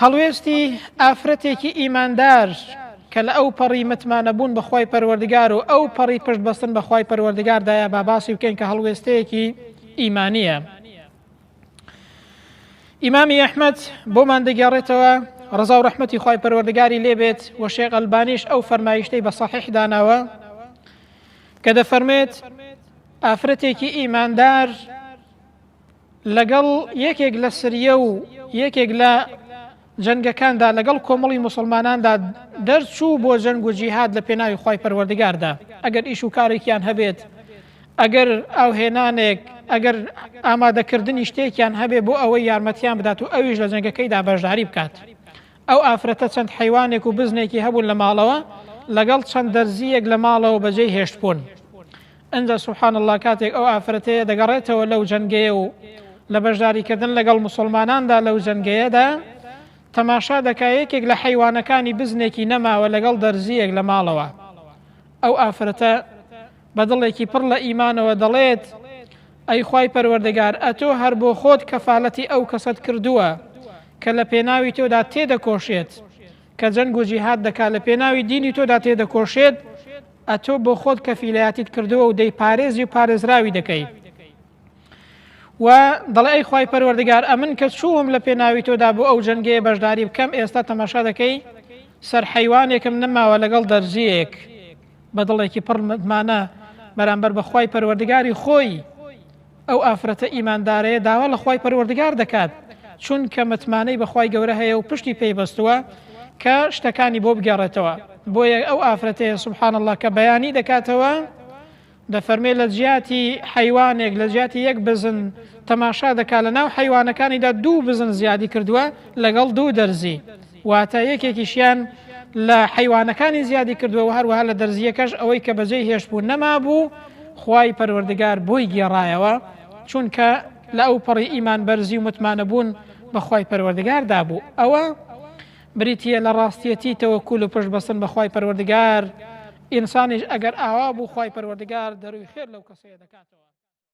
هەڵوێستی ئافرەتێکی ئیماندار کە لە ئەو پەڕی متمانەبوون بە خوای پەروەردگار و ئەو پەڕی پشت بەستن بە خوای پەروەردگاردایە با باسی بکەین کە هەڵوێستەیەکی ئیمانیە. ئیمامی ئەحمد بۆمان دەگەڕێتەوە ڕزا و ڕحمەتی خی پەروەردگاری لێبێت و شێقەلبانیش ئەو فەرمایشتەی بە سەحح داناوە کە دەفەرمێت ئافرەتێکی ئیماندار لەگەڵ یەکێک لە سریە و یەکێک لە جەنگەکاندا لەگەڵ کۆمەڵی مسلماناندا دەرچوو بۆ جەنگ و جیهاد لە پێناوی خی پەروەردگاردا ئەگەر ئیش و کارێکیان هەبێت ئەگەر ئاوهێنانێک ئەگەر ئامادەکردنی شتێکیان هەبێ بۆ ئەوەی یارمەتیان بدات و ئەویش لە جەنگەکەیدا بەشداری بکات ئەو ئافرەتە چەند حیوانێک و بزنێکی هەبوون لە ماڵەوە لەگەڵ چەند دەرزیەک لە ماڵەوە بەجێ هێشتبوون ئنجا سبحان اللە کاتێک ئەو ئافرەتەیە دەگەڕێتەوە لەو جەنگەیە و لە بەشداریکردن لەگەڵ موسڵماناندا لەو جەنگەیەدا تەماشا دەکا یەکێک لە حەیوانەکانی بزنێکی نەماوە لەگەڵ دەرزیەک لە ماڵەوە ئەو ئافرەتە بە دڵێکی پڕ لە ئیمانەوە دەڵێت ئەی خوای پەروەردەگار ئەتۆ هەر بۆ خۆت کەفالەتی ئەو کەسەت کردووە کە لە پێناوی تۆدا تێدەکۆشێت کە جەنگ و جیهاد دەکات لە پێناوی دینی تۆدا تێدەکۆشێت ئەتۆ بۆخۆت کەفیلایەتیت کردووە و دەیپارێزی و پارێزراوی دەکەی و دەڵێ ئەی خی پەروەردگار ئەمن کە چووم لە پێناوی تۆدا بۆ ئەو جەنگەیە بەشداری بکەم ئێستا تەماشا دەکەی سەر حیوانێکم نەماوە لەگەڵ دەرزیەک بە دڵێکی پڕمانە بەرامبەر بەخوای پەروەردگاری خۆی ئەو ئافرەتە ئیماندارەیە داوا لە خوای پەروەردگار دەکات چونکە متمانەی بە خوای گەورە هەیە و پشتی پێی بەستووە کە شتەکانی بۆ بگێڕێتەوە بۆیە ئەو ئافرەتەیە سبحان اللە کە بەیانی دەکاتەوە دەفەرمێ لە جیاتی حیوانێک لە جیاتی یەک بزن تەماشا دەکات لە ناو حیوانەکانیدا دوو بزن زیادی کردووە لەگەڵ دوو دەرزی واتە یەکێکیشیان لە حەیوانەکانی زیادی کردووە و هەروەها لە دەرزییەکەش ئەوەی کە بەجێی هێشتبوو نەمابوو خوای پەروەردگار بۆی گێڕایەوە چونکە لە ئەو پەڕی ئیمان بەرزی و متمانە بوون بەخوای پەروەردگار دابوو ئەوە بریتە لە ڕاستیەتی تەوەکول و پشت بەستن بەخوای پەروەردگار ئینسانیش ئەگەر ئاوا بوو خوای پەروەردگار دەروی خێر لەو کەسەیە دەکاتەوە.